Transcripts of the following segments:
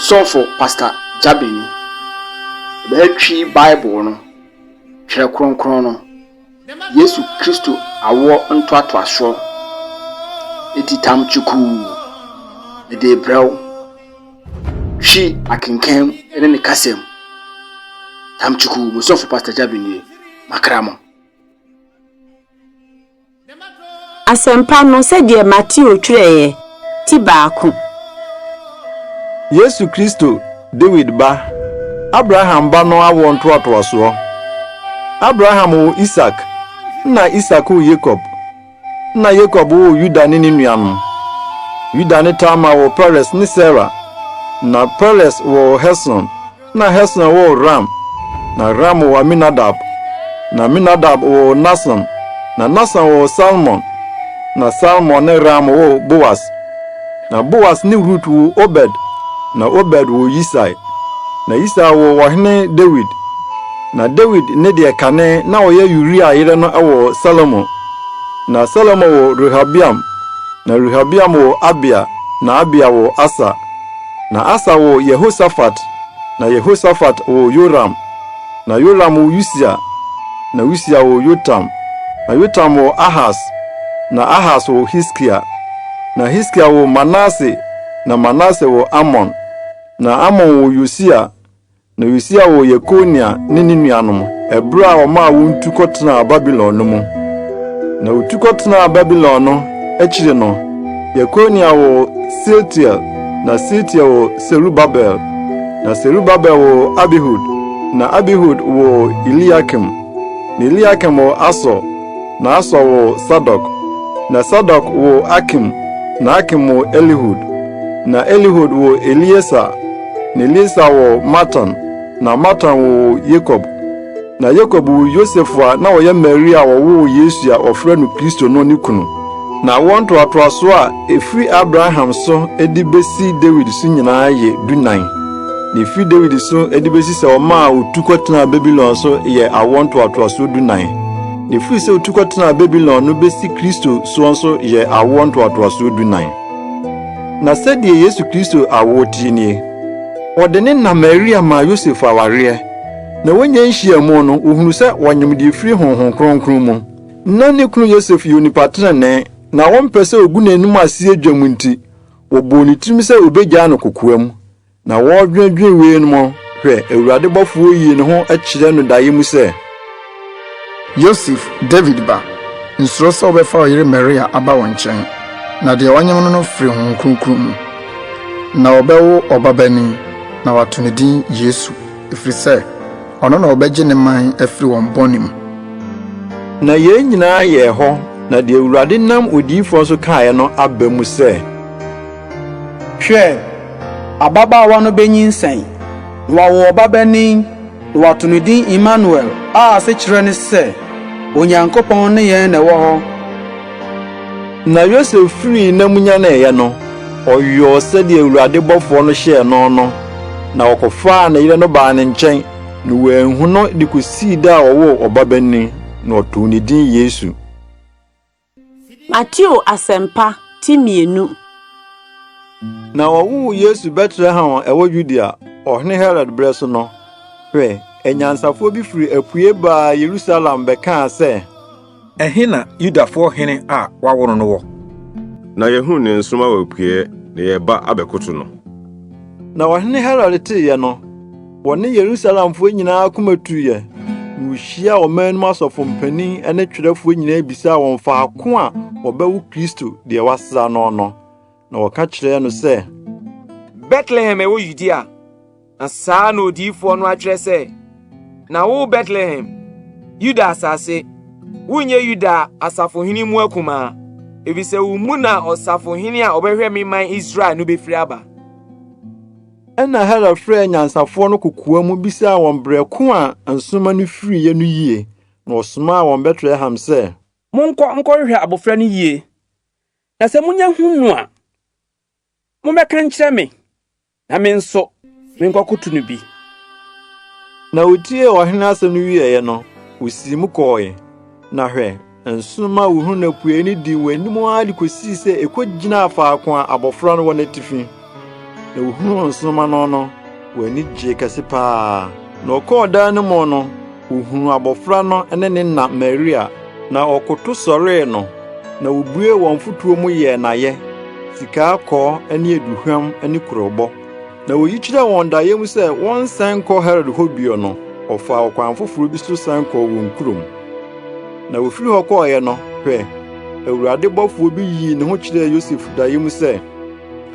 Sɔfo Pastor Gyabeni bɛtwi Bible no, Twerɛ Kronkron no, Yesu Kristo awoɔ ntoatoasoɔ atitam kyukuu de rebrɛ wo. Twi akenkan ne ne kasam. Tam kyukuu, mo sɔfo Pastor Gyabeni, makra mo. Asɛmpa no sɛdeɛ Mateo twerɛeɛ, ti baako. Yesu Kristo, Dawid ba, Abraham ba no awoɔ ntoatoasoɔ. Abraham woo Isak, nna Isak woo Yakob, nna Yakob woo Yuda ne ne nuanom. Yuda ne Tamar woo Peres ne Sera, nna Peres woo Hesron, Na Hesron woo Ram, na Ram woo Aminadab, na Aminadab woo Nahson, na Nahson woo Salmon, na Salmon ne Ram woo Boas. Na Boas ne Rut woo Obed, na Obed woo Yisai, na Yisai woo Ɔhene Dawid. Na Dawid ne deɛ kane na ɔyɛ Uria yere no woo Salomo, na Salomo woo Rehabeam, na Rehabeam woo Abia, na Abia woo Asa. Na Asa woo Yehosafat, na Yehosafat woo Yoram, na Yoram woo Usia, na Usia woo Yotam, na Yotam woo Ahas, na Ahas woo Hiskia, na Hiskia woo Manase, na Manase woo Amon, na Amon woo Yosia, Na Yosia woo Yekonia ne ne nuanom ɛberɛ a wɔmaa wɔn tu kɔtenaa Babilon no mu. Na wɔtu kɔtenaa Babilon no akyire no, Yekonia woo Sealtiel, na Sealtiel woo Serubabel, na Serubabel woo Abihud, na Abihud woo Eliakim, na Eliakim woo Asor, na Asor woo Sadok, na Sadok woo Akim, na Akim woo Elihud, na Elihud woo Elieser, Na Lisa woo Matan, na Matan woo Yakob. Na Yakob woo Yosef a na ɔyɛ Maria a ɔwoo Yesu a wɔfrɛ no Kristo no ne kunu. Na wɔn ntoatoasoɔ a ɛfiri Abraham so de bɛsi Dawid so nyinaa yɛ dunan. Na ɛfiri Dawid so de bɛsi sɛ ɔmaa ɔtu kɔtenaa Babilon so yɛ awoɔ ntoatoasoɔ dunan. Na ɛfiri sɛ ɔtu kɔtenaa Babilon no bɛsi Kristo soɔ nso yɛ awoɔ ntoatoasoɔ dunan. Na sɛdeɛ Yesu Kristo awoɔ teɛ nie, wɔde ne na Maria maa Yosef awareɛ, na wɔnya nhyiamu no, wɔhunu sɛ wɔnyem deɛ ɛfiri Honhom Kronkron mu. Na ne kunu Yosef yɛ onipa tenenee, na wɔmpɛ sɛ wɔgu n'anom ase dwam nti, wɔbɔɔ ne tirim sɛ wɔbɛgyaa no kokoam. Na wɔredwennwen wei no, hwɛ, Awurade bɔfoɔ yii ne ho kyerɛɛ no daeɛ mu sɛ. Yosef, Dawid ba, nsuro sɛ wobɛfa wo yere Maria aba wo nkyɛn, na deɛ ɔnye wo no no firi Honhom Kronkron mu. Na wɔbɛwo ɔbabanin, na wɔato ne din Yesu, ɛfiri sɛ, ɔno na ɔbɛgye ne man afiri wɔn bɔne mu. Na yei nyinaa yɛɛ hɔ, na deɛ Awurade nam odiyifoɔ so kaeɛ no aba mu sɛ. Hwɛ! ababaawa no benyinsɛn, na wawo ɔbabanin, na wɔato no din Imanuel, a asekyerɛ ne sɛ, Onyankopɔn ne yɛn na ɛwɔ hɔ. Na Yosef firii nna mu nyaneeɛ no, ɔyɔɔ sɛdeɛ Awurade bɔfoɔ no hyɛɛ no no, na ɔkɔfaa ne yere no baa ne nkyɛn, na wanhu no de kɔsii da a ɔwoo ɔbabanin, na ɔtoo ne din Yesu. Mateo Asɛmpa ti mmienu. Na wɔwoo Yesu Betlehem a ɛwɔ Yudea, ɔhene Herod berɛ so no. Hwɛ, anyansafoɔ bi firi apue baa Yerusalem bɛkaa sɛ, Ɛhe na Yudafoɔ hene a wɔawo no no wɔ? Na yɛahunu ne nsoromma wɔ apueeɛ, na yɛreba abɛkoto no. Na ɔhene Herod teeɛ no, Wɔne Yerusalemfoɔ nyinaa akoma tuiɛ, na wɔhyiaa ɔman no mu asɔfo mpanin ne twerɛfoɔ nyinaa bisaa wɔn faako a wɔbɛwo Kristo deɛ wɔasra no no. Na wɔka kyerɛɛ no sɛ, Betlehem ɛwɔ Yudea. Na saa na odiyifoɔ no atwerɛ sɛ, Na wo Betlehem, Yuda asase, wonyɛ Yuda asafohene mu akumaa, efisɛ wo mu na ɔsafohene a ɔbɛhwɛ me man Israel no bɛfiri aba. Ɛnna Herod frɛɛ anyansafoɔ no kokoa mu bisaa wɔn berɛ ko a nsoromma no firiiɛ no yie, na ɔsomaa wɔn Betlehem sɛ, Monkɔ nkɔhwehwɛ abɔfra no yie, na sɛ monya hu no a, mommɛka nkyerɛ me, na me nso menkɔkoto no bi. Na wotiee ɔhene asɛm no wieeɛ no, wosiim kɔe. Na hwɛ! Nsoromma huhuu no apuei no dii wɔn anim ara de kosii sɛ ekogyinaa faako a abofra no wɔ n'atifi. Na wohuu nsoromma no no, wɔn ani gyee kɛse paa. Na ɔkɔɔ dan no mu no, ohuu abofra no ne ne na Maria, na ɔkoto sɔree no, na wobuee wɔn mfotoɔ mu yɛɛ n'ayɛ, sika akɔɔ ne aduhwam ne kurobo. Na oyi kyerɛɛ wɔn daeɛ mu sɛ wɔnsan nkɔ Herod hɔ bio no, ɔfaa ɔkwan foforo bi so san kɔɔ wɔn kurom. Na ofiri hɔ kɔeɛ no, hwɛ, Awurade bɔfoɔ bi yii ne ho kyerɛɛ Yosef daeɛ mu sɛ,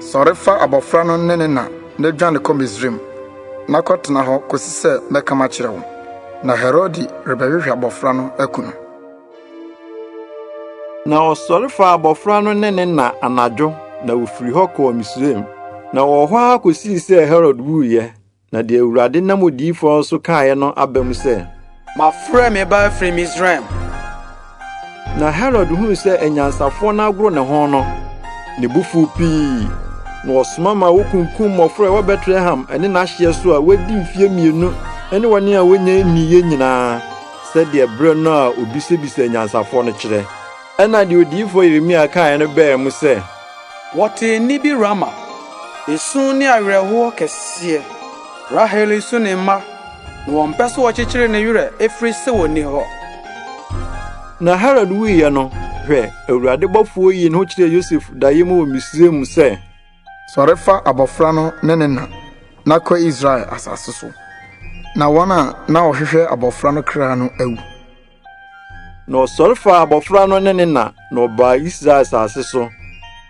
Sɔre fa abɔfra no ne ne na na dwane kɔ Misraim, na kɔtena hɔ kɔsi sɛ mɛka makyerɛ wo, na Herode rebɛhwehwɛ abɔfra no aku no. Na ɔsɔre faa abɔfra no ne ne na anadwo na ofiri hɔ kɔɔ Misraim. Na ɔwɔ hɔ ara kosii sɛ Herod wuiɛ. Na deɛ Awurade nam odiyifoɔ so kaeɛ no aba mu sɛ, Mafrɛ me ba afiri Misraim. Na Herod huu sɛ anyansafoɔ no agoro ne ho no, ne bo fuu pii. Na ɔsoma ma wokunkum mmɔfra a ɛwɔ Betlehem ne n'ahyeɛ so a wɔadi mfeɛ mmienu ne wɔn a wɔnnya nniiɛ nyinaa. sɛdeɛ berɛ no a ɔbisabisaa anyansafoɔ no kyerɛ. Ɛnna deɛ odiyifoɔ Yeremia kaeɛ no baa mu sɛ. Wɔtee nne bi Rama, esu ne awerɛhoɔ kɛseɛ, Rahel resu ne mma, na wɔmpɛ sɛ wɔkyekyere ne werɛ, ɛfiri sɛ ɔnni hɔ. Na Herod wuiɛ no, hwɛ! Awurade bɔfoɔ yii ne ho kyerɛɛ Yosef daeɛ mu wɔ Misraim sɛ. Sɔre fa abɔfra no ne ne na, na kɔ Israel asase so, na wɔn a na wɔhwehwɛ abɔfra no kra no awu. Na ɔsɔre fa abɔfra no ne ne na, na ɔbaa Israel asase so.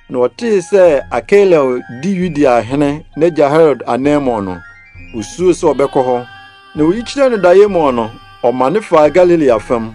Na ɔtee sɛ Akelel di Yudea hene n'agya Herod ananmu no, osuroe sɛ ɔbɛkɔ hɔ. Na oyi kyerɛ no daeɛ mu no, ɔmane faa Galilea fam.